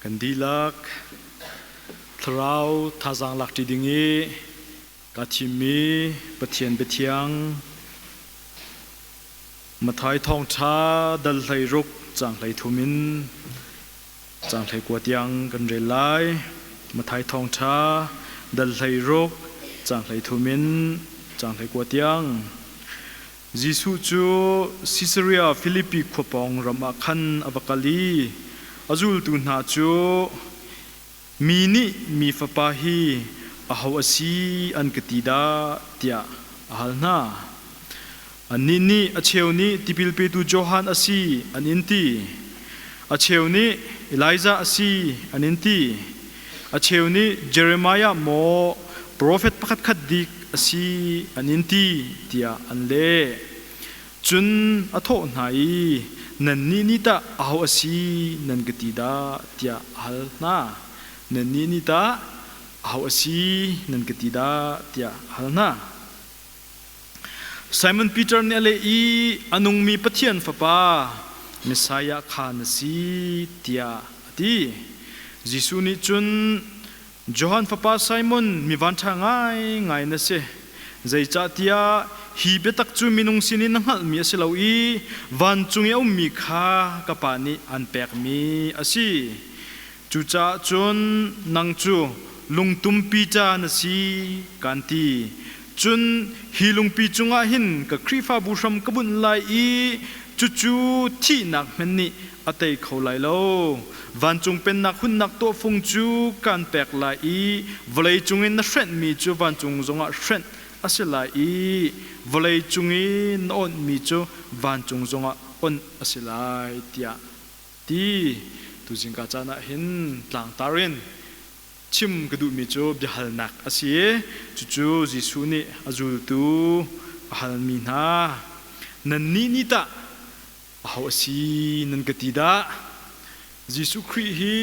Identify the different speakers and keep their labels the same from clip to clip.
Speaker 1: Kan dihlak thlarau thazaang lakṭi ding i kaa thimmi Pathian biathiang Matthai thawngṭha dal hlei ruk caang hlei thum in caang hlei kua tiang kan rel lai. Matthai thawngṭha dal hlei ruk caang hlei thum in caang hlei kua tiang Jesuh cu Sisaria Filipi khua pawng ram ah khan a va kal i a zultu hna cu, Mi nih mi Fapa hi aho a si an ka ti dah? tiah a hal hna. Annih nih, A cheu nih tipil petu Johan a si, an in ti. A cheu nih, Elijah a si, an in ti. A cheu nih Jeremiah maw profet pakhatkhat dik a si an in ti tiah an leh. Cun a thawh hna i, Nannih nih tah aho a si nan ka ti dah? tiah a hal hna. Nannih nih tah aho a si nan ka ti dah? tiah a hal hna. Simon Peter nih a leh i a nungmi Pathian Fapa Messiah kha na si tiah a ti. Jesuh nih cun Johan fapa Simon mi vanṭha ngaingai na si. Zeicahtiah hi biatak cu minung sin in na hngalhmi a si lo i vancung i a ummi kha ka Pa nih an pekmi a si. Cucaah cun nang cu lungtumpi ca na si, kaan ti. Cun hi lungpi cungah hin ka Khrihfabu hram ka bunh lai i cucu thihnak hmanh nih a tei kho lai lo. Vancung Pennak hunnak tawhfung cu kaan pek lai i vawlei cungin na hrenhmi cu vancung zongah hrenh a si lai i vawlei cung i na awnhmi cu vancung zongah awnh a si lai, tiah ti tuzing ka caan ah hin tlangtar in chim ka duhmi cu biahalnak a si i cucu Jesuh nih a zultu a halmi hna nannih nih tah aho a si nan ka ti dah Jesuh Khrih hi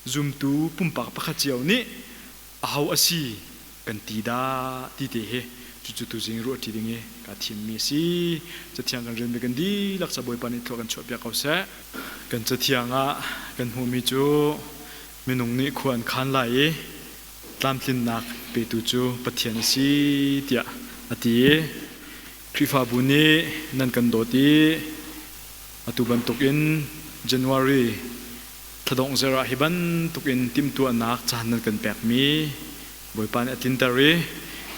Speaker 1: Zumtu pumpak pakhat cio nih aho a si kan ti dah ti te hi cucu tuzing i ruahṭi ding i kaa thimmi a si. Cathiang kan relmi kan dihlak sa Bawipa nih thlua kan chuahpiak ko seh. Kan cathiang ah kan hmuhmi cu minung nih khua an khan lai i tlamtlinnak petu cu Pathian a si tiah a ti i Khrihfabu nih nan kan dawt i atu bantukin January Thadawng Zerah hi bantuk in timhtuahnak caan nan kan pekmi Bawipa nih a tlinter i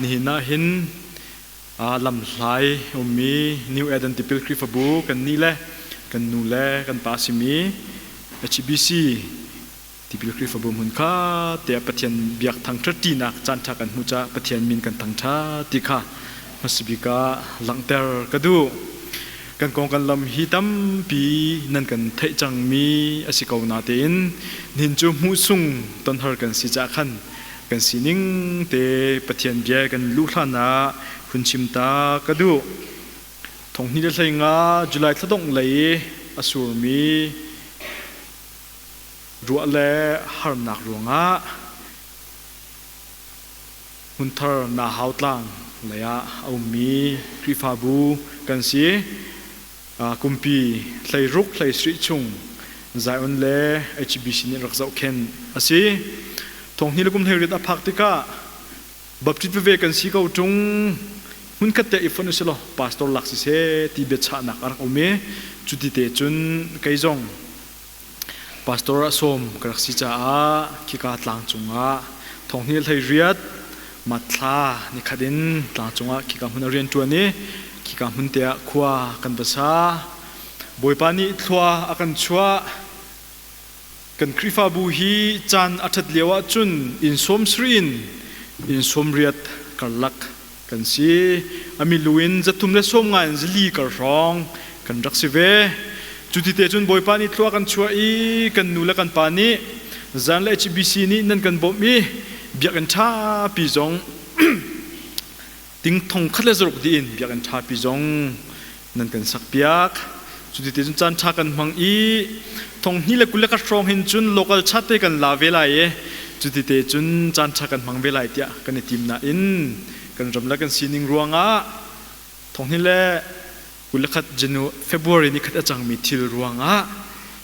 Speaker 1: nihin ah hin lamhlai a ummi New Eden tipil Khrihfabu kannih le kan nu le kan pa simi HBC tipil Khrihfabu hmun kha tiah Pathian biak thangṭhatṭinak caanṭha kan hmuh caah Pathian min kan thangṭha ti kha hmasabik ah langhter ka duh. kan kong kan lam hi tampi nan kan theih cangmi a si ko natein nihin cu hmuhsung tonhar kan si cah khan kan sining te pathian bia kan luh hlan ah hun chim ta ka duh thonghni le hlei nga july thladong lei a surmi ruah le harnak ruangah Hmunthar Nahau Tlang leiah a ummi Khrihfabu kan si. Kumpi hleiruk hleisrih chung Zion le HBC nih rak zohkhen a si. Thonghni le kum hleiriat a phak tikah baptist veve kan si ko ṭung hmunkhat te i fon u si law pastor lak si se ti biachahnak a rak um i cuti te cun kei zong Pastor ah sawm ka rak si caah khika tlangcung ah thonghni hleiriat matthla nikhat in tlangcung ah khika hmun ah rian ṭuan i khika hmun te ah khua kan va sa. Bawipa nih thlua a kan chuah. Kan Khrihfabu hi caan a ṭhat lio ahcun inn sawm sri in inn sawm riat karlak kan si amilu in zathum le sawm ngai in zali kar hrawng kan rak si ve cu ti te cun bawipa nih thlua kan chuah i kan nu le kan pa nih zan le HBC nih nan kan bawmh i biakinn ṭha pi zong ting thong khat le zaruk dih in biakinn ṭha pi zong nan kan sakpiak. Cuti cun caan ṭha kan hmang i thonghni le kul le khat hrawng hin cun local chat te kan la ve lai i cuti te cun caan ṭha kan hmang ve lai tiah kan i tim nain kan ramlak kan sining ruangah thonghni le kul le khat February ni khat a cangmi thil ruangah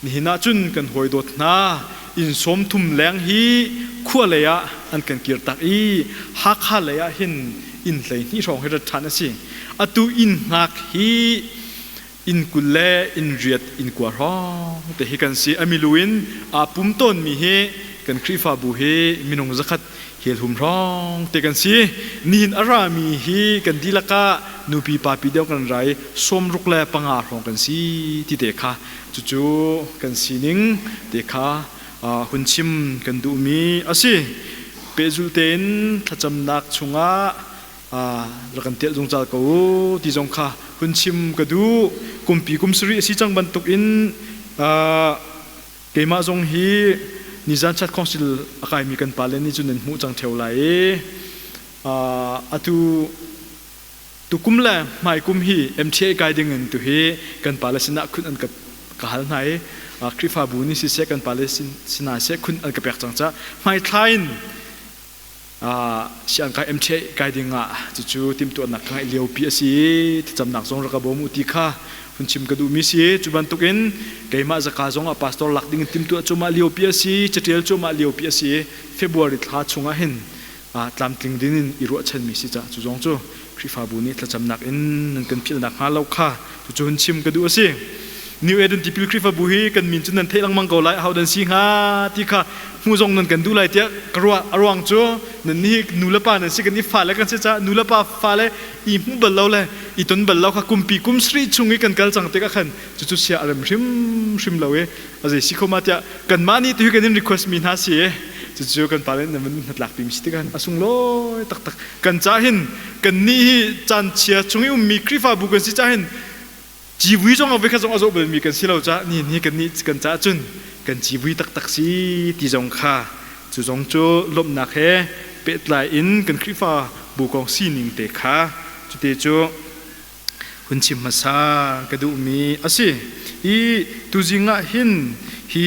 Speaker 1: Nihin ah cun kan hawi dawt hna, inn sawmthum leng hi khua lei ah an kan kir tak i Hakha lei ah hin inn hleihnih hrawng hi rat ṭhan a si. Atu inn hngak hi inn kul le inn riat inn kua hrawng te hi kan si. A milu in aa pum tawnmi hi kan Khrihfabu hi minung zakhat helhum hrawng te kan si. Nihin a rami hi kan dihlak ah nupi papi deuh kan ra i sawmruk le panga hrawng kan si ti te kha Cucu kan sining te kha hun chim kan duhmi a si. Pehzulh tein thlacamnak chungah rak kan tial zungzal ko u ti zong kha hun chim ka duh. Kumpi kum sarih a si cang bantukin keimah zong hi nizan chat khongsil a kaimi kan pale nih cun nan hmuh cang theo lai i atu Tukum le hmaikum hi MTA kai ding in tu hi kan pale sinah khun an ka ka hal hna i Khrihfabu nih siseh kan pale sinah seh khun an ka pek cang ca hmaithlai in si an kai MTA kai ding ah cucu timtuahnak ka ngeih liopi a si i thlacamnak zong rak ka bawm u ti kha hun chim ka duhmi si cu bantuk in keimah zaka zong ah pastor lak ding in timtuah cuahmah liopi a si catial cuahmah liopi a si February thla chung ah hin tlamtling din in i ruahchanmi si caah cu zong cu Khrihfabu nih thlacamnak in nan kan philh nakhnga lo kha cucu hun chim ka duh a si. New Eden tipil Khrihfabu hi kan min cu nan theih lengmang ko lai hau nan si hnga ti kha hmu zong nan kan duh lai tiah ka ruah a ruang cu nan nih nu le pa nan si kan i fale kan si caah nu le pa fale i hmu bal lo le i ton bal lo kha kumpi kum sarih chung i kan kal cang tikah khan cucu sia a rem hrimhrim lo i a zei si khoma tiah kanmah nih tuhi kan in request mi hna si i cucu kan pale nih nan hnatlak pimi si tikan a sung lawi taktak kan ca hin kan ni hi caan chia chung i ummi khrihfabu kan si ca hin civui zong a vekhat zong a zoh balmi kan si lo ca ni ni kan ni kan ca cun kan civui taktak si ti zong kha cu zong cu lomnak he pehtlai in kan khrihfa bu kong sining te kha cute cu hun chim hmasa ka duhmi a si i tuzing ah hin hi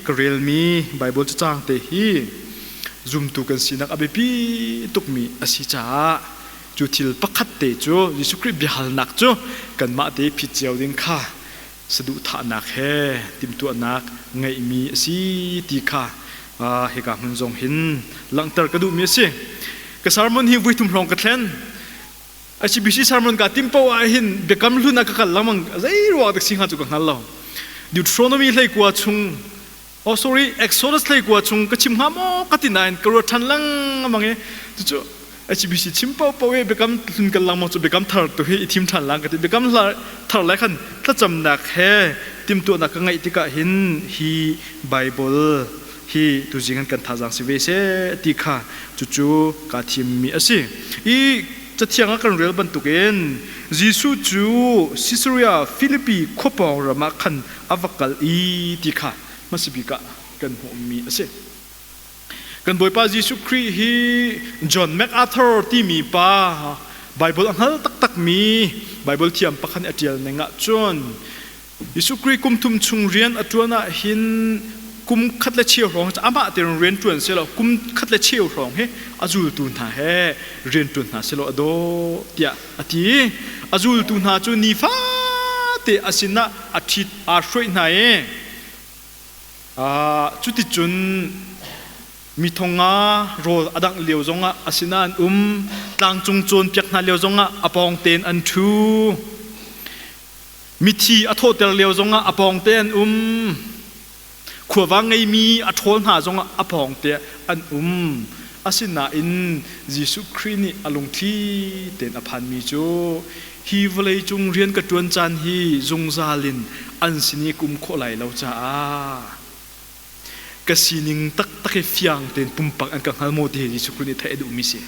Speaker 1: ka relmi Bible cacang te hi zumtu kan sinak a biapi tukmi a si caah cu thil pakhat te cu Jesuh Khrih biahalnak cu kanmah te phit cio ding kha saduhthahnak he timhtuahnak ngeihmi a si ti kha hika hmun zong hin langhter ka duhmi a si ka sermon hi vuithum hrawng ka thlen HBC sermon ka tim po ah hin biakam hlun a ka kal lamang zei ruwa tak singa chu ka ngal lo Deuteronomy hlei kwa chung oh sorry Exodus hlei kwa chung ka chim ha mo ka tin nain ka ro than lang mange chu chu HBC chim po po e biakam hlun kal lamang chu biakam thar tu hi i thim than lang ka ti biakam thar lai khan thlacam nak he tim tu nak ka ngai tika hin hi bible hi tuzing an kan thazang si ve se ti kha cucu ka thim mi a si i cathiang a kan rel bantukin Jesuh cu Caesarea Philippi khua pawng ram ah khan a va kal i ti kha hmasibik ah kan hmuh mi a si kan bawipa Jesuh Khrih hi John MacArthur timi pa Bible a hngal taktak mi Bible thiam pakhat nih a tial ning ahcun Jesuh Khrih kum thum chung rian a ṭuan ah hin kum khat le cheu hrawng hi amah tein rian ṭuan si lo kum khat le cheu hrawng hi a zultu hna he rian ṭuan hna si law a dawh tiah a ti. A zultu hna cu nifate a sinah a ṭhit aa hruaih hna i cuticun mi thonga rawl a dangh lio zongah a sinah an um. Tlangcung cawnpiak hna lio zongah a pawng tein an ṭhu. Mithi a thawhter lio zongah a pawngte an um. Khuava ngeimi a ṭhawl hna zongah a pawngte an um. Asinain Jesuh Khrih nih a lungthli tein a phanmi cu hi vawleicung rian ka ṭuan caan hi zungzal in an sin i kum khawh lai lo caah ka sining taktak hi fiang tein pumpak an ka hngal maw ti hi Jesuh Khrih nih theih a duhmi si.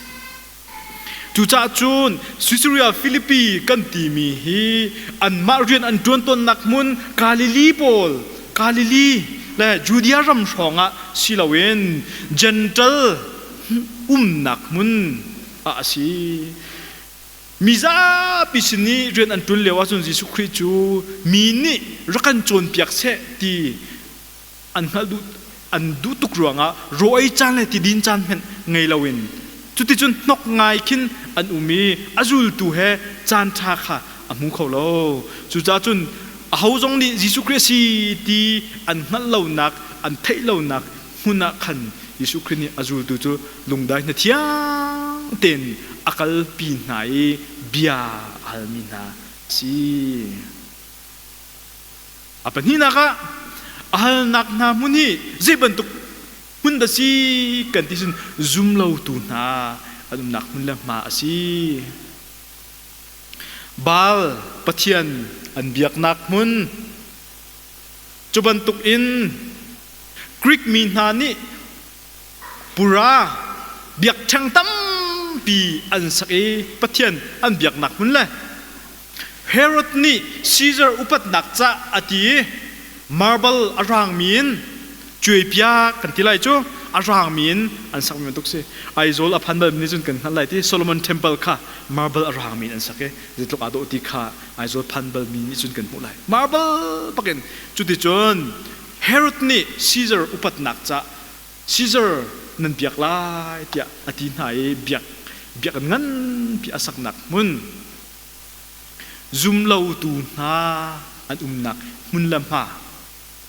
Speaker 1: Cucaah cun Caesarea Philippi kan timi hi anmah rian an ṭuan tawnnak hmun Galilee pawl Galilee le Judea ram hrawngah si loin Gental umnak hmun ah a si. Mizapi sin i rian an ṭun lio ahcun Jesuh Khrih cu mi nih rak kan cawnpiak seh ti an hngalh duh an duh tuk ruangah rawi caan le tidin caan hmanh ngei loin cuticun hnok ngai khin an um i a zultu he caan ṭha kha a hmu kho lo. Cucaah cun aho zong nih Jesuh Khrih a si ti an hngalh lonak, an theih lonak hmun ah khan Jesuh Khrih nih a zultu cu lungdai hnathiang tein a kalpi hna i bia a halmi hna si a pahnihnak ah a halnak hna hmun hi zei bantuk hmun dah si kan ti cun zumlotu hna an umnak hmun le hma a si Baal pathian an biaknak hmun Cubantuk in Greek mi hna nih pura biakṭheng tampi an sak i Pathian an biaknak hmun le Herod nih Caesar upatnak cah a ti i marble a raangmi in cuaipiak kan ti lai cu a raangmi in an sak mi bantuk si Aizawl a phan bal nih cun kan hngalh lai ti Solomon Temple kha marble a raangmi in an sak i zeitluk aa dawh ti kha Aizawl phan balmi nih cun kan hmuh lai. Marble bakin cuticun Herod nih Caesar upatnak cah Caesar nan biak lai tiah a ti hna i biak biak an nganpi a saknak hmun zumlotu hna an umnak hmun le hma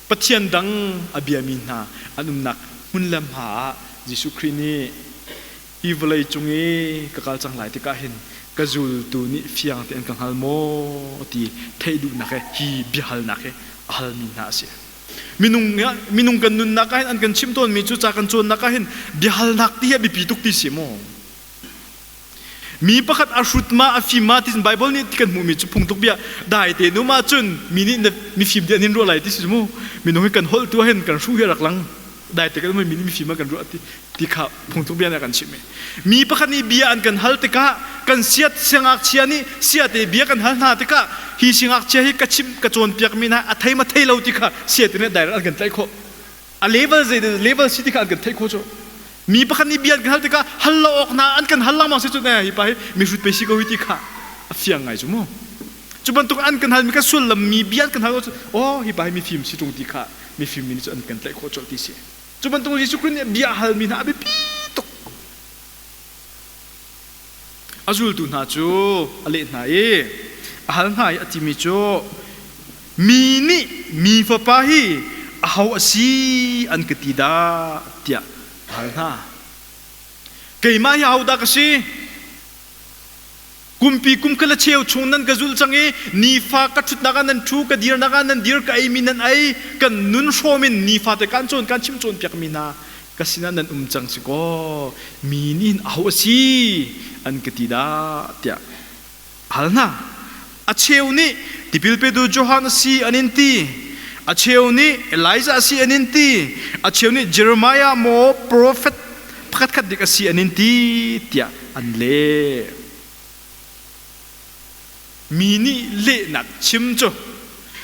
Speaker 1: Pathian dang a biami hna an umnak hmun le hma ah Jesuh Khrih nih hi vawlei cung i ka kal cang lai tikah hin ka zultu nih fiang tein ka hngal maw ti theih duhnak he hi biahalnak hi a halmi hna a si minung minung kan nunnak ah hin an kan chimh tawnmi cu ca kan cawnnak ah hin biahalnak ti hi a biapi tuk ti si maw mi pakhat a hrut ma a fim ma ti bible nih ti kan hmuhmi cu phungtuk bia dai te nu ma cun mi nih mi fim dian hin ruah lai ti si mu minung hi kan holh tu hin kan hru hi rak lang dai te kan mi nih mifim kan ruah ti ti kha phungthuk bia na kan chim mi pakhat nih bia an kan hal tikah kan siat siangakchia nih siate bia kan hal hna tikah hi siangakchia hi ka chim ka cawnpiak mi na a thei ma thei lo ti kha siate nih direct an kan tlaih khawh a level zei level si ti kha an kan theih khawh cu mi pakhat nih bia an kan hal tikah hal lo awk na an kan hal langmang si cu ne hi pa hi mi hrut pe si ko hi ti kha a fiang ngai cu mu Cu bantuk an kan hal mi kan sullam mi bia kan hal oh hi bai mi fim si tung ti kha mi fim mi nih cu an kan tlaih khawh colh ti si cu bantuk Jesuh Christ nih bia hal mi hna a biapi tuk a zultu hna cu a leh hna i a hal hna i a ti mi cu mi nih mi fapa hi a ho a si an ka ti dah tiah a hal hna keimah hi ahodah ka si Kumpi kum kala cheu chung nan ka zulh cang i nifa ka ṭhutnak ah nan ṭhu ka dirnak ah nan dir ka eimi nan ei kan nun hrawm in nifate kan cawn kan chim cawnpiakmi hna ka sinah nan um cang si kaw mi nih hin aho a si an ka ti dah tiah hal hna a cheu nih tipil petu Johan a si an in ti a cheu nih Elijah a si an in ti a cheu nih Jeremiah maw profet pakhatkhat dik a si an in ti tiah an leh mi nih lehnak chim cu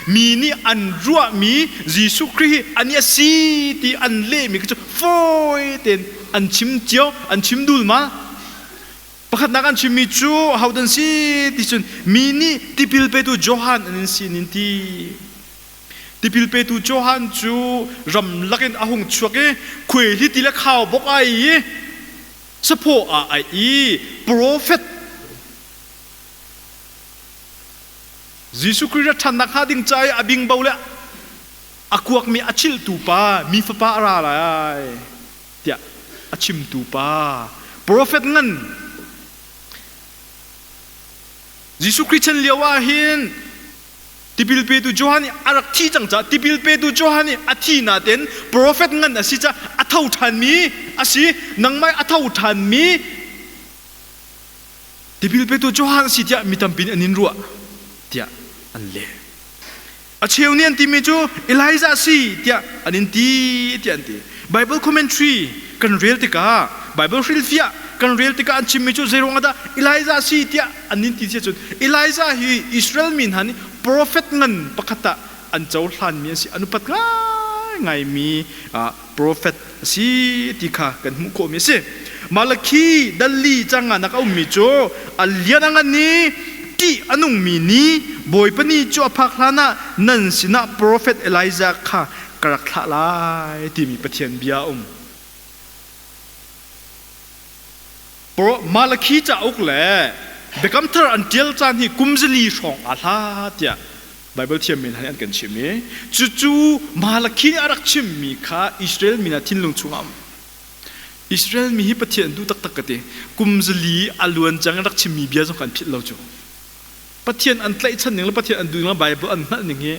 Speaker 1: mi nih an ruahmi Jesuh Khrih hi ani a si ti an lehmi cu fawi tein an chim cio an chim dul ma pakhatnak an chimmi cu ahodan si ti cun mi nih tipil petu Johan an in sin in ti Tipil petu Johan cu ram lakin a hung chuak i khuai li ti le khau bok ai i saphaw ah ai i profet Jesuh Khrih rat ṭhannak hnga ding ca i a bingbo le a kuakmi a chilhtu pa mi fapa a ra lai tiah a chimtu pa profet ngan Jesuh Khrih chan lio ah hin Tipil petu Johan nih a rak thi cang caah tipil petu Johan nih a thi na ten profet ngan a si caah a tho ṭhanmi a si nangmah a tho ṭhanmi tipil petu Johan si tiah mi tampi nih an in ruah tiah an leh a cheu nih an timi cu Elijah si tiah an in ti tiah an ti Baibal commentary kan rel tikah Baibal hrilhfiah kan rel tikah an chimmi cu zeiruang dah Elijah si tiah an in ti cun Elijah hi Israel mi hna nih profet ngan pakhat ah an cohlanmi an si an upat ngaingaimi profet a si ti kha kan hmuh khawhmi a si Malakhi dalli canganak a ummi cu a lian a ngan i ṭih a nungmi ni Bawipa ni cu a phak hlanah nan sinah profet Elijah kha ka rak thlah lai timi Pathian bia a um. Malakhi cauk le Biakam Thar an ṭial caan hi kumzali hrawng a hla tiah Baibal thiammin hlan an kan chim i cucu Malakhi nih a rak chimmi kha Israel mi hna thinlung chungah um. Israel mi hi Pathian tu taktak ka ti kumzali a luan cang rak chimmi bia zong kan philh lo cu Pathian an tlaihchan ning le Pathian an duh ning le Baibal an hngalh ning hi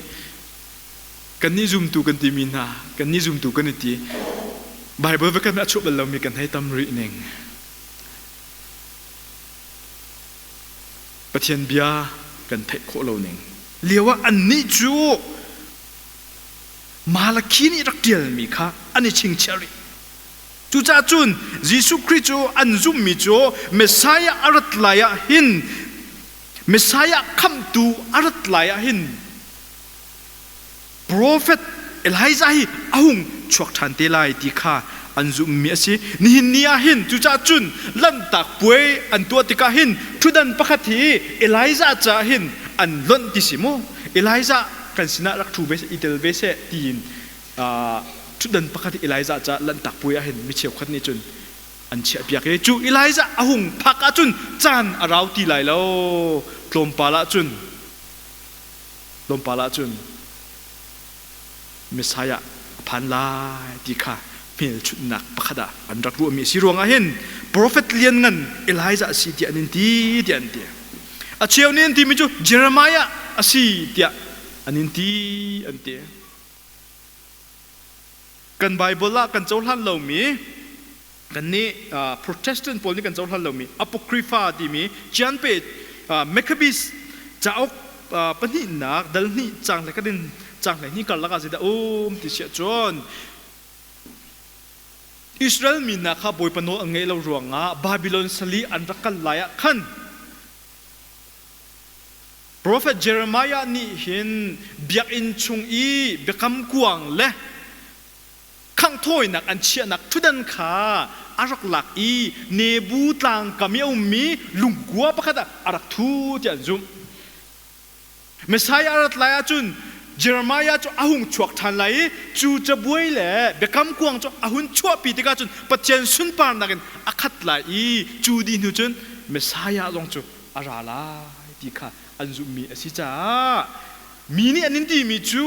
Speaker 1: Kannih zumtu kan timi hna, kannih zumtu kan i ti. Baibal viatkhat nih a chuah bal lomi kan hei tam rih ning. Pathian bia kan theih khawh lo ning. Lio ah annih cu Malakhi nih rak ṭialmi kha an i chingchiah rih. Cucaah cun Jesuh Khrih cu an zummi cu Messiah a rat lai ah hin Messiah khamhtu a rat lai ah hin profet Elijah hi a hung chuak ṭhan te lai ti kha an zumhmi a si. Nihin ni ah hin cucaah cun lanhtak puai an tuah tikah hin ṭhutdan pakhat hi Elijah caah hin an lonh ti si mu. Elijah kan sinah rak ṭhu ve seh, i tel ve seh tiin ṭhutdan pakhat hi Elijah caah lanhtak puai ah hin mi cheukhat nih cun an chiahpiak i cu Elijah a hung phak ahcun caan a rau ti lai lo. Tlawmpal ah cun Tlawmpal ah cun Messiah a phan lai ti kha hmelchunhnak pakhat ah an rak ruahmi a si ruangah hin profet lianngan Elijah a si tiah an in ti tiah an ti a cheu nih an timi cu Jeremiah a si tiah an in ti an ti kan Bible ah kan cohlan lomi kannih Protestant pawl nih kan cohlan lomi Apocrypha timi Cianpe Maccabees cauk pahnihnak dal hnih cang le kan in cang hleihnih karlak ah zeidah um ti siah cun Israel mi hna kha Bawipa nawl an ngaih lo ruangah Babylon sali an rak kal lai ah khan Profet Jeremiah nih hin biakinn chung i biakam kuang le khangh thawinak an chiahnak ṭhutdan kha a rak lak i Nebu tlang kam i a ummi lungkua pakhat ah a rak thu tiah an zumh. Messiah a rat lai ahcun Jeremiah cu a hung chuak ṭhan lai i cu cabuai le biakam kuang cu a hun chuahpi tikah cun Pathian sunparnak in a khat lai i cu dih hnu cun Messiah zong cu a ra lai ti kha an zumhmi a si caah mi nih an in timi cu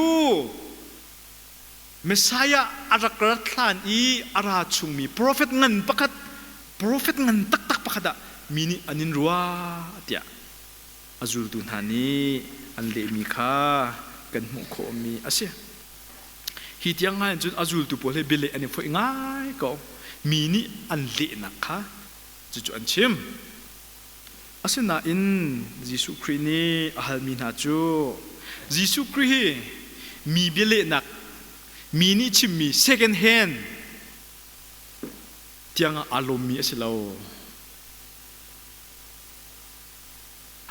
Speaker 1: Messiah a rak rat hlan i a ra chungmi profet ngan pakhat profet ngan taktak pakhat ah mi nih an in rua tiah a zultu hna nih an lehmi kha kan hmuh khawhmi a si hi tiang ngai cun a zultu pawl he bialeh an i foih ngai ko mi nih an lehnak kha cucu an chim Asinain Jesuh Khrih nih a halmi hna cu Jesuh Khrih hi mi bialehnak, mi nih chimmi second hand tiangah aa lawmmi a si lo.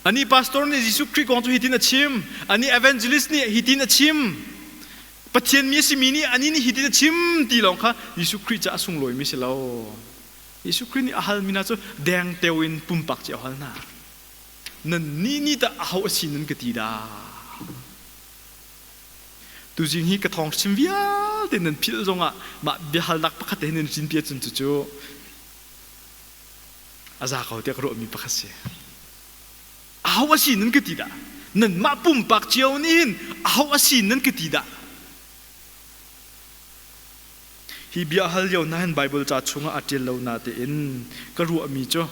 Speaker 1: Anih pastor nih Jesuh Khrih kong cu hitin a chim. Anih evangelist nih hitin a chim. Pathian mi a simi nih anih nih hitin a chim ti lawng kha Jesuh Khrih caah a sunglawimi a si lo. Jesuh Khrih nih a hal mina cu dengteo in pumpak cu a hal hna. Nan nih nih dah aho a si nan ka ti dah? Tuzing hi ka thawng hrim vialte nan philh zongah mah biahalnak pakhat te nan rinpi ahcun cucu a za ko tiah ka ruahmi pakhat si. Aho a si nan ka ti dah? Nanmah pumpak cio nih hin aho a si nan ka ti dah? Hi bia hal lio hna hin Baibal ca chungah a ṭial lo na tein ka ruahmi cu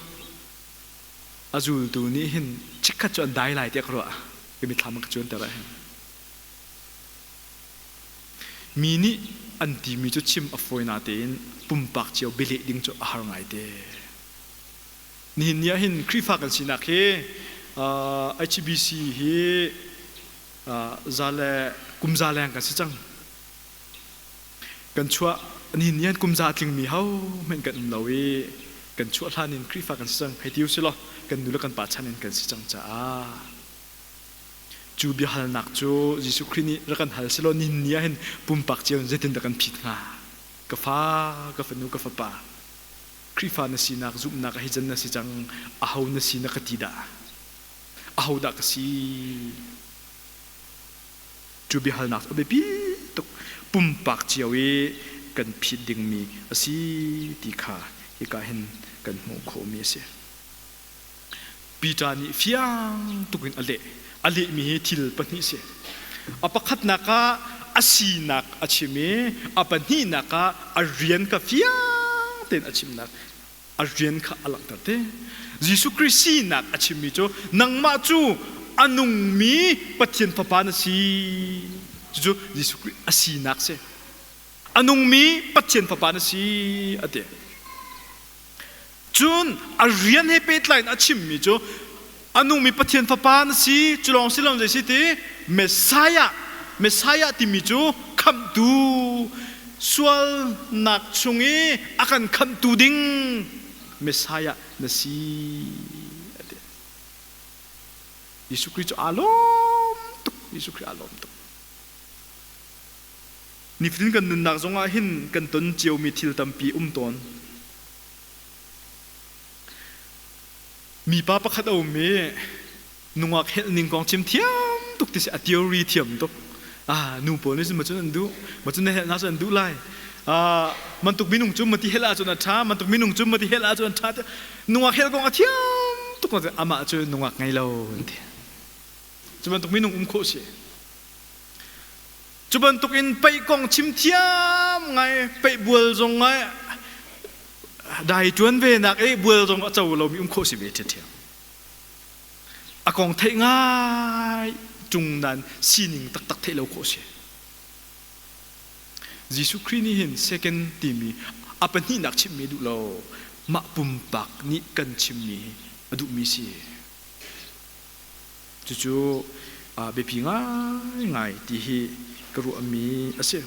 Speaker 1: a zultu nih hin chikkhat cu an dai lai tiah ka ruah ka mithlam a ka cuanter ah hin mi nih an timi cu chim a fawi na tein pumpak cio bileh ding cu a har ngaite nihin ni ah hin Khrihfa kan sinak hi uh, HBC hi uh, za le kumza leng kan si cang Kan chuah nihin nian kum za a tlingmi hohmanh kan um lo i kan chuah hlan in Khrihfa kan si cang hei ti u si law kan nu le kan pa chan in kan si cang caah cu biahalnak cu Jesuh Khrih nih rak kan hal si law nihin ni ahhin pumpak cio in zeitindah kan phit hnga ka fa ka fanu ka fapa Khrihfa na sinak zumhnak hi can na si cang aho na si na ka ti dah ahodah ka si cu biahalnak a biapi tuk pumpak cio i kan phit dingmi a si ti kha hika hin kan hmuh khawhmi a si. Peter nih fiang tuk in a leh. A lehmi hi thil pahnih si. A pakhatnak ah a sinak a chim i a pahnihnak ah a rian ka fiang tein a chimnak a rian kha a langhter te Jesuh Khrist sinak a chimmi cu nangmah cu a nungmi Pathian fapa na si cucu Jesuh Khrist a sinak si a nungmi Pathian fapa na si a ti cun a rian he pehtlai in a chimmi cu a nungmi Pathian fapa na si cu lawng si lo zei si ti Messiah Messiah timi cu khamhtu sualnak chung i a kan khamhtu ding Messiah na si Jesuh Khrist cu aa lawm tuk Jesuh Khrist aa lawm tuk nifatin kan nunnak zongah hin kan ton ciomi thil tampi um tawn Mipa pakhat a um i nungak helh ning kong chim thiam tuk ti si a theory thiam tuk ah nu pawl nih cun macun an duh macun na helh hna cu an duh lai ah mantuk minung cu mati helh ahcun a ṭha mantuk minung cu mati helh ahcun an ṭha tiah nungak helh kong a thiam tuk na amah cu nungak ngei lo an ti cu bantuk minung um khawh si Cu bantukin peih kong chim thiam ngai, peih bual zong ngai, dai ṭuan ve nak i bual zong a co lomi um khawh si ve ṭhiamṭhiam. A kong theih ngai cung nan sining taktak theih lo khawh si. Jesuh Khrih nih hin second timi a pahnihnak chimmi duh lo, mah pumpak nih kan chimmi hi a duhmi si. Cucu biapi ngaingai ti hi ka ruahmi a si.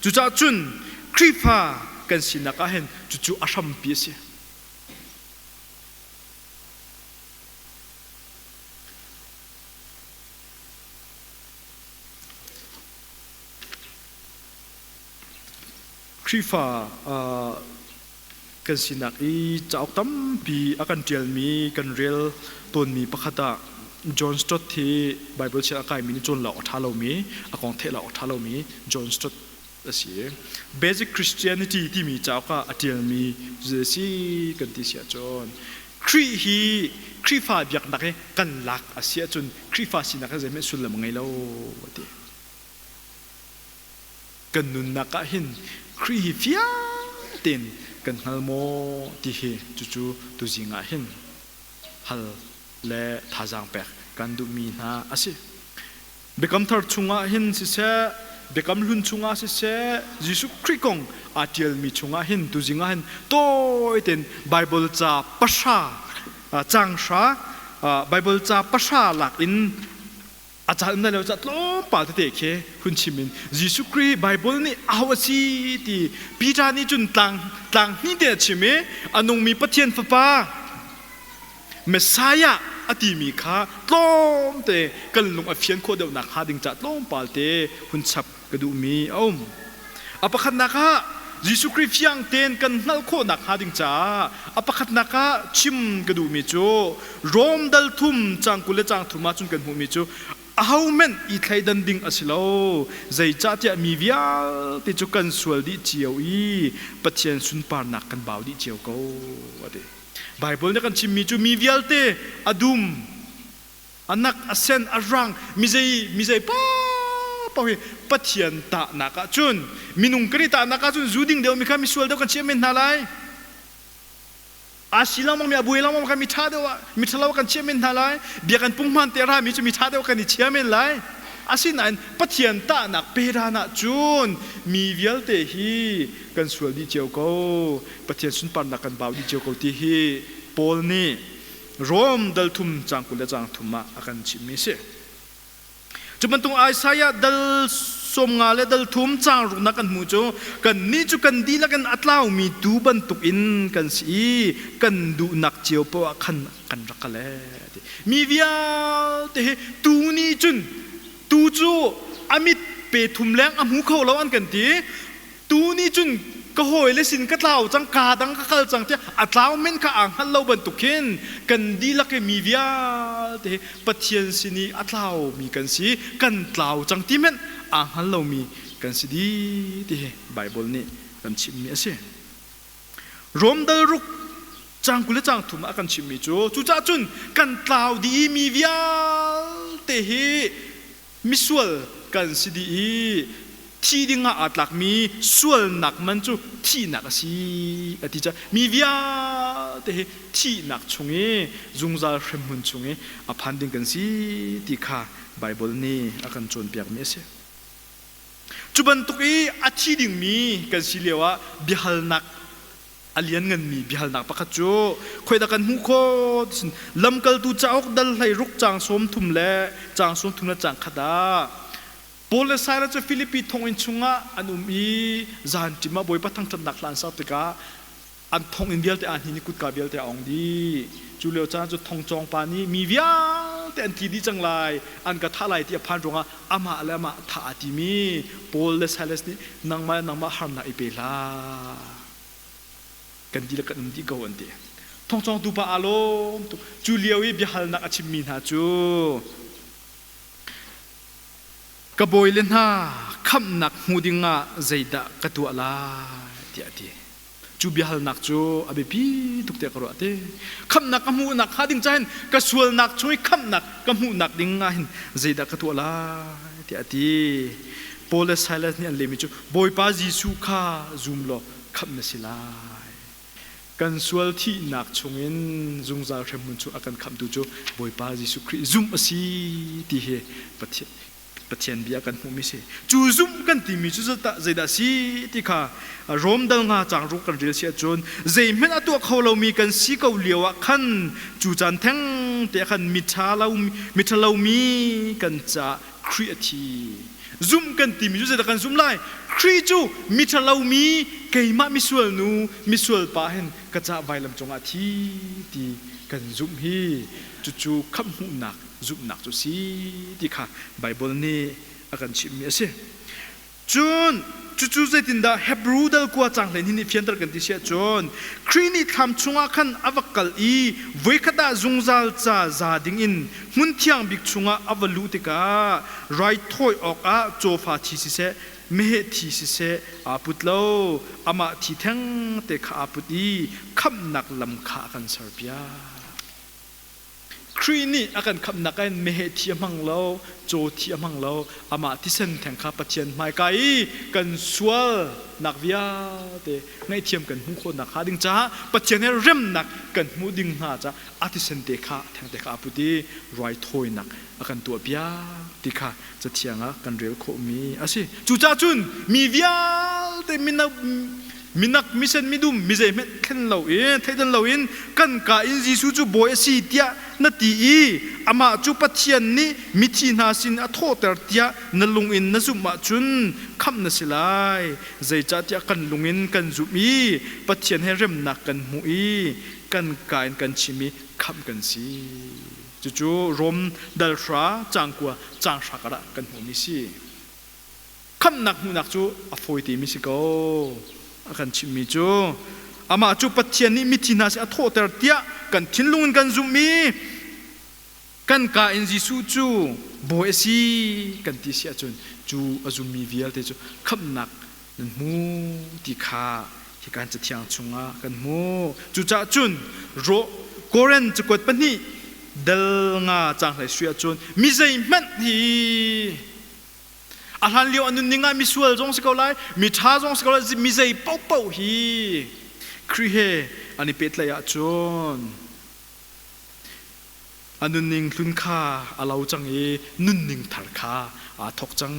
Speaker 1: Cucaah cun Khrihfa kan sinak ah hin cucu a hrampi a si. Khrihfa kan sinak i cauk tampi a kan ṭialmi kan rel tawnmi pakhat ah John Stott hi Baibal chiah a kaimi nih cawn lo a ṭha lomi a kong theih lo a ṭha lomi John Stott a si i Basic Christianity timi cauk ah a ṭialmi cu a si kan ti siah cun Khrih hi Khrihfa biaknak hi kan lak a si ahcun Khrihfa sinak hi zeihmanh sullam ngei lo a ti. kan nunnak ah hin Khrih hi fiang tein kan hngal maw ti hi cucu tuzing ah hin hal le thazaang pek kan duhmi hna a si biakam thar chungah hin siseh biakam hlun chungah siseh Jesuh Khrih kong aa ṭialmi chungah hin tuzing ah hin tawitein Baibal ca pahra cang hra Baibal ca pahra lak in a cal na leo ca tlawmpal tete khi hun chim in Jesuh Khrih Bible nih au a si ti Peter nih cun tlang tlang hnih te a chim i a nungmi Pathian fapa Messiah a timi kha tlawmte kan lung a fian khawh deuh nak hnga ding ca tlawmpal te hun chap ka duhmi a um. A pakhatnak ah Jesuh Khrih fiang tein kan hngalh khawh nakhnga ding caah a pakhatnak ah chim ka duhmi cu Rom dal thum cang kul le cang thum ah cun kan hmuhmi cu ahohmanh i thleidan ding a si lo zeicahtiah mi vialte cu kan sual dih cio i Pathian sunparnak kan bau dih cio ko a ti Baibal nih a kan chimmi cu mi vialte a dum a nak a sen a rang mizei mizei pa pa hi pathian tahnak ah cun minung kari tahnak ah cun zu ding deuh mi kha mi sual deuh kan chiah men hna lai asi langmang mi abuai langmang kha mi tha deuh ah mi thalo kan chiah men hna lai biakan pungman te ra mi cu mi tha deuh kan i chia men lai asinain pathian tahnak pe ran ah cun mi vialte hi kan sual dih cio ko pathian sunparnak kan bau dih cio ko ti hi paul nih Rom dal thum cang kul le cang thum ah a kan chimmi a si. Cu bantuk Isaiah dal sawm nga le dal thum cang ruknak kan hmu cu kannih cu kan dihlak in a tlaumi tuu bantuk in kan si i kan duhnak cio poah khan kan rak ka let. Mi vialte hi tuu nih cun tuu cu a mit pe thum leng a hmu kho lo an kan ti. tu nih cun ka hawile sin ka tlau cang ka dang ka kal cang tiah a tlau men kha aa hngal lo bantuk hin kan dihlak i mi vialte Pathian sin i a tlau mi kan si kan tlau cang ti men aa hngal lomi kan si di ti hi Bible nih kan chimmi a si Rom dal ruk cang kul le cang thum ah kan chimmi cu cucah cun kan tlau di i mi vialte hi Misual kan si dih i thi dingah aa tlakmi sualnak man cu thihnak a si a ti cu mi vialte hi thihnak chung i zungzal hremhmun chung i a phan ding kan si ti kha Baibal nih a kan cawnpiakmi a si. Cu bantuk i a thi dingmi kan si lioah biahalnak a liannganmi biahalnak pakhat cu khoidah kan hmuh khawh ti lamkaltu cauk dal hlei ruk caang sawm thum le caang sawm thum le caang khat ah Paul le Silas cu Filipi thonginn chungah an um i zan ṭim ah Bawipa thangṭhatnak hla an sak tikah an thonginn vialte ah hnin i kutka vialte a ong dih cu lio caan cu thong cawng pa nih mi vialte an thi dih cang lai an ka thah lai ti a phan ruangah amah le amah thah aa timi Paul le Silas nih nangmah le nangmah harnak i pe hlah kan dihlak kan um dih ko an ti thongcongtu pa aa lawm tuk cu lio i biahalnak a chimmi hna cu ka bawile hna khamhnak hmu dingah zeidah ka tuah lai tiah a ti cu biahalnak cu a biapi tuk tiah ka ruah te khamhnak ka hmuhnak hnga ding cahin ka sualnak chung i khamhnak ka hmuhnak ding ah hin zeidah ka tuah lai tiah a ti Paul le Silas nih an lemi cu Bawipa Jesuh kha zum law khamh na si lai. Kan sual thihnak chungin zungzal hremhmun chung a kan khamhtu cu Bawipa Jesuh Khrih zumh a si ti hi Pathian, Pathian bia kan hmuhmi si. Cu zumh kan timi cu zeidah a si ti kha Rom dang hna caangruk kan rel si ahcun zeihmanh a tuah kho lomi kan si ko lio ah khan cu caan thengte ah khan miṭha lo, miṭhalomi kan caah Khrih a thi. Zumh kan timi cu zeidah kan zumh lai? Khrih cu miṭhalo mi, keimah misual nu, misual pa hen ka cah vailam cungah a thi ti kan zumh hi cucu khamhhmuhnak zumhnak cu si ti kha Baibal nih a kan chimhmi a si. Cun cucu zeitindah Hebru dalkua cang hleihnih nih fianter kan ti si ahcun, Khrih nih thlam chungah khan a va kal i voikhat ah zungzal ca za dingin hmunthiang bik chungah a va luh tikah raithawi awkah cawfa thi siseh, meheh thi siseh aa put lo, amah thi thengte kha aa put i khamhnak lam kha a kan serpiak. Khrih nih a kan khamhnak in meheh thi a hmang lo, caw thi a hmang lo, amah thisen theng kha Pathian hmaika i kan sualnak vialte ngaihthiam kan hmuh khawhnak hnga ding caah Pathian he remnak kan hmuh ding hna caah a thisen te kha a theng te kha a put i ruaithawinak a kan tuahpiak ti kha Cathiang ah kan rel khawhmi a si. Cucaah cun mi vialte minak misen midum mizei hmanh thlen lo in theidan loin kan ka in Jesuh cu bawi a si tiah na ti i amah cu Pathian nih mithi hna sin a thawhter tiah na lung in na zumh ahcun khamh na si lai zeicahtiah kan lung in kan zumh i Pathian he remnak kan hmuh i kan ka in kan chim i khamh kan si. Cucu Rom dalhra cangkua canghra kar ah kan hmuhmi si. Khamhnak hmuhnak cu a fawitemi si ko. A kan chimhmi cu amah cu Pathian nih mithi hna sin a thawhter tiah kan thinlung in kan zumh i kan ka in Jesuh cu bawi a si kan ti si ahcun cu a zummi vialte cu khamhnak na hmu ti kha hi kan cathiang chungah kan hmuh cucaah cun ro koren cakuat pahnih dal nga cang hlei suih ahcun mi zeihmanh hi a hlan lio a nunning ah misual zong si ko lai mi ṭha zong si ko lai mi zei paohpaoh hi Khrih he an i pehtlaih ahcun a nunning hlun kha a lo cang i nunning thar kha aa thawk cang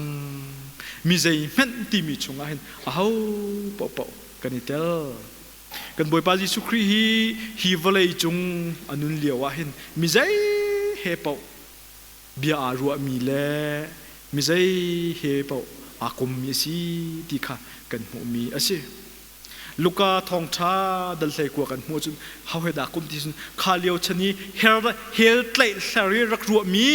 Speaker 1: mi zei hmenh timi chungah hin aho paohpaoh kan i tel kan bawipa jesuh khrih hi hi vawlei cung a nun lio ah hin mi zei he paoh bia aa ruahmi le mi zei he paoh aa kommi a si ti kha kan hmuhmi a si Luka thawngṭha dal hlei kua kan hmuh cun hawe dah kum ti cun kha lio chan i hel hel tlaih hler i rak ruahmi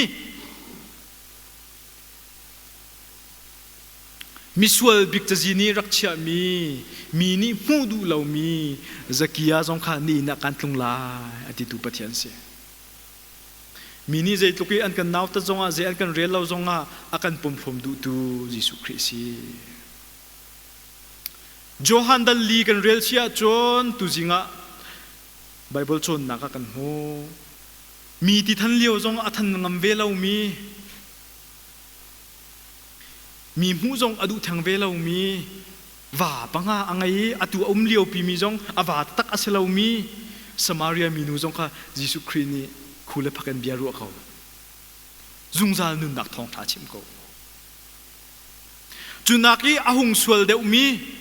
Speaker 1: misual bik cazi nih rak chiahmi mi nih hmuh duh lomi zakia zong kha ni in ah kan tlung lai a titu pathian si mi nih zeitluk i an kan nautat zongah zei an kan rel lo zongah a kan pom hlawm duhtu Jesuh Khrih si Johan dal li kan rel chih ahcun tuzing ah Baibal cawnnak ah kan hmuh. Mi ti than lio zong a than ngam ve lomi, mi hmuh zong a duh theng ve lomi, va panga a ngei i atu a um lio pimi zong a va tak a si lomi Samaria minu zong kha Jesuh Khrih nih khu le phak in bia ruah ko. Zungzal nunnak thawngtha chim ko. Cunak i a hung sual deuhmi,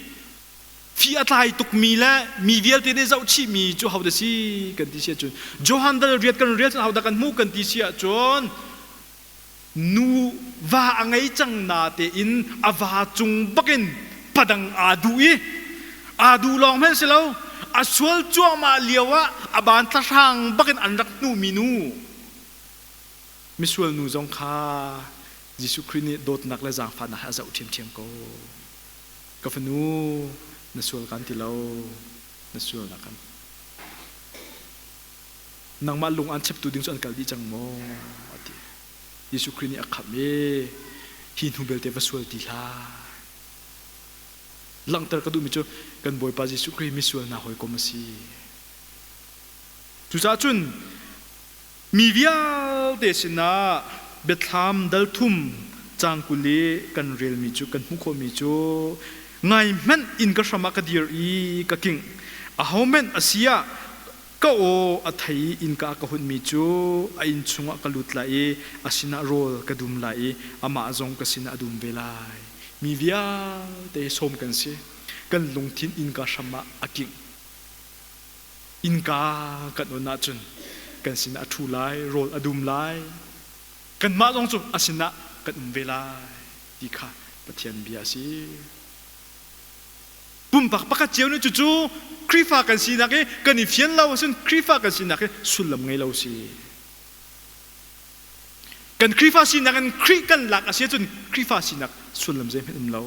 Speaker 1: fi a tlai tukmi le mi vialte nih zohchihmi cu hodah si kan ti si ahcun Johan dal riat kan riat hodah kan hmuh kan ti si ahcun nu va a ngei cang na tein a va cung bakin padang aa duh i aa duh lawng hmanh si lo a sual cuahmah lio ah a ban thlahrang bakin an rak hnumi nu misual nu zong kha Jesuh Khrih nih dawtnak le zaangfahnak hi a zoh ṭhiamṭhiam ko. Ka fanu, na sual kan ti lo, na sual na kan. Nangmah lung aan cheptu ding cu an kal dih cang maw? a ti. Jesuh Khrih nih a khamh i, hi hnu belte va sual ti hlah. Langhter ka duhmi cu kan Bawipa Jesuh Khrih misual hna hawikom a si. Cucaah cun Mi vialte sinah biathlam dal thum cang kul i kan relmi cu kan hmuh khawhmi cu ngaihmanh inn ka hram ah ka dir i ka kingh, ahohmanh a si ah ka aw a thei i innka ah ka hunmi cu a inn chungah ka lut lai i a sinah rawl ka dum lai i amah zong ka sinah a dum ve lai. Mi vialte sawm kan si, kan lungthin innka hram ah a kingh. Innka kan on ahcun kan sinah a ṭhu lai, rawl a dum lai. Kanmah zong cu a sinah kan um ve lai ti kha Pathian bia a si. Pumpak pakhat cio nih cucu Khrihfa kan sinak i kan i fian lo ahcun Khrihfa kan sinak hi sullam ngei lo si. Kan Khrihfa sinak in Khrih kan lak a si ahcun Khrihfa sinak sullam zeihmanh um lo.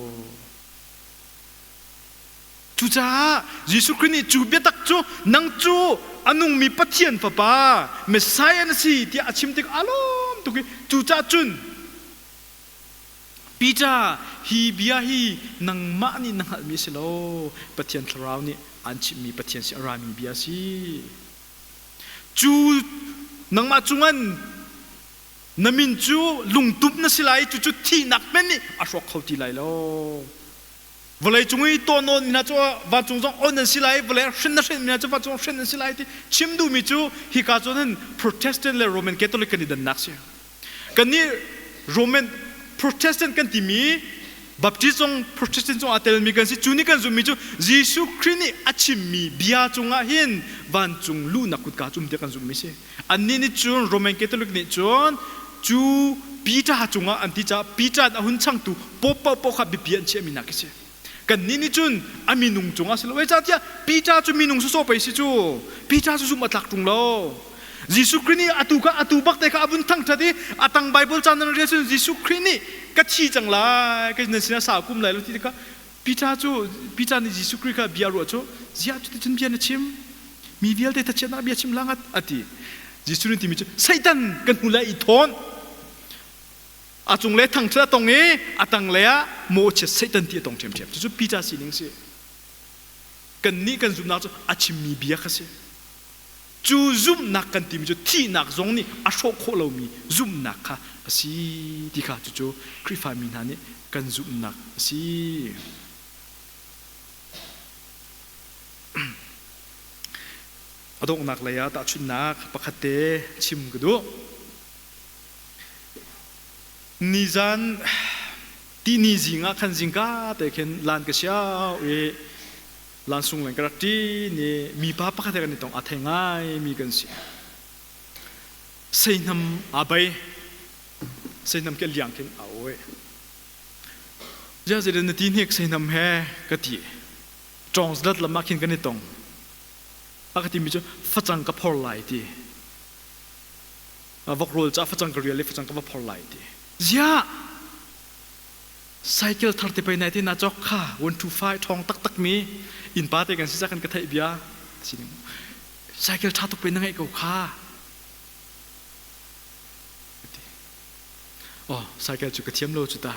Speaker 1: Cucaah Jesuh Khrih nih cu biatak cu nang cu a nungmi Pathian Fapa Messiah na si tiah a chim tikah a lawm tuk i cucaah cun Peter hi bia hi nangmah nih na hngalhmi a si lo Pathian Thlarau nih aan chimhmi Pathian si a rami bia si cu nangmah cungan na min cu lungtumh na si lai i cucu thihnak hmanh nih a hrawk kho ti lai lo vawlei cung i tuan nawn mi hna cu vancung zong on an si lai vawlei hrin na hrin mi hna cu vancung hrin an si lai ti chim duhmi cu hika cun hin protestant le roman catholic kan i dannak si kannih roman protestant kan timi baptist zong protestant zong aa telmi kan si cu nih kan zummi cu jesuh khrih nih a chimmi bia cungah hin vancung luhnak kutka cu umte kan zummi si Annih nih cun Roman Catholic nih cun cu Peter cungah an ti caah Peter a hun changtu pope paohpaoh kha biapi an chiahmi nak a si. Kannih nih cun a minung cungah si lo e cahtiah Peter cu minung sawsawh pei si cu Peter cu zumh a tlak ṭung lo. Jesuh Khrih nih atu kha atu bak te kha a vun thangṭhat i a tang Baibal caan nan rel cun Jesuh Khrih nih ka thi cang lai ka nan sinah sa kum lai lo ti kha Peter cu Peter nih Jesuh Khrih kha bia ruah cu ziah cuticun bia na chim? Mi vialte thachhiatnak bia chim hlanah a ti. Jesuh nih timi cu Satan kan hnu i thawn a cung le thang cu a tong i a tanglei ah mawhchiat Satan ti a tong ṭhiamṭhiam cucu Peter sining a si. Kannih kan zumhnak cu a chimmi bia kha si. Cu zumhnak kan timi cu thihnak zong nih a hrawh khawh lomi zumhnak kha a si ti kha cucu Khrihfami hna nih kan zumhnak a si. A donghnak lei ah tahchunhnak pakhat te chim ka duh. Nizan tini zing ah khan zingka te khin lan ka sia i lansung leng ka rak ṭin i mipa pakhat he kan i tong a thei ngaimi kan si seihnam a bei seihnam ke liang khin a oe zia zedan na ti hnek seihnam he ka ti ṭong zlat lam ah khin kan i tong a ka timi cu facang ka phor lai ti vok rol ca facang ka rial i facang ka va phor lai ti zia cycle thar te pei nai ti na chok kha wan thu fai thong tak tak mi in pa te kan si kan ka thai bia sining cycle tha tuk pe na ngai ko kha oh cycle chu ka thiam lo chu ta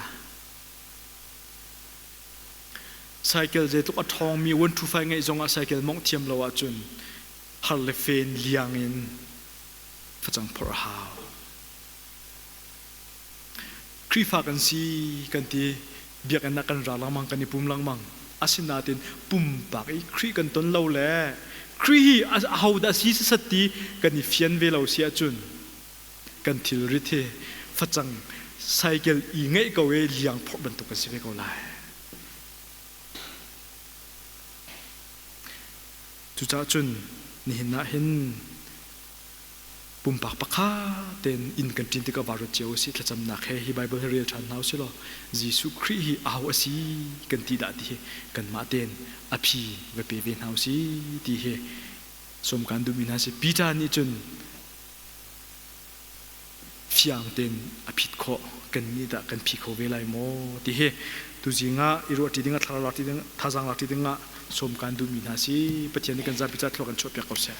Speaker 1: cycle je tuk a thong mi wan thu fai ngai zong a cycle mong thiam lo a chun har le fen liang in facang phor hau Khrihfa kan si kan ti biakinn ah kan ra lengmang kan i pum lengmang asinain pumpak i Khrih kan ton lo le Khrih hi ahodah si sasat ti kan i fian ve lo si ahcun kan thilrit hi facang cycle i ngeih ko i liang phawk bantuk kan si ve ko lai. Cucah cun nihin ah hin pumpak pakhat tein inn kan ṭin tikah vaa ruat cio a si. Thlacamnak he hi Baibal hi rel ṭhan hna u sih law Jesuh Khrih hi au a si kan ti dah ti hi kanmah tein a phi va pe ve hna u si ti hi sawm kan duhmi hna si. Peter nih cun fiang tein a phit khawh kan nih dah kan phi kho ve lai maw ti hi tuzing ah i ruah ṭi dingah thlarau lak ding thazang lak ṭi dingah sawm kan duhmi hna si Pathian nih kan zapi ca thluak an chuahpiak ko seh.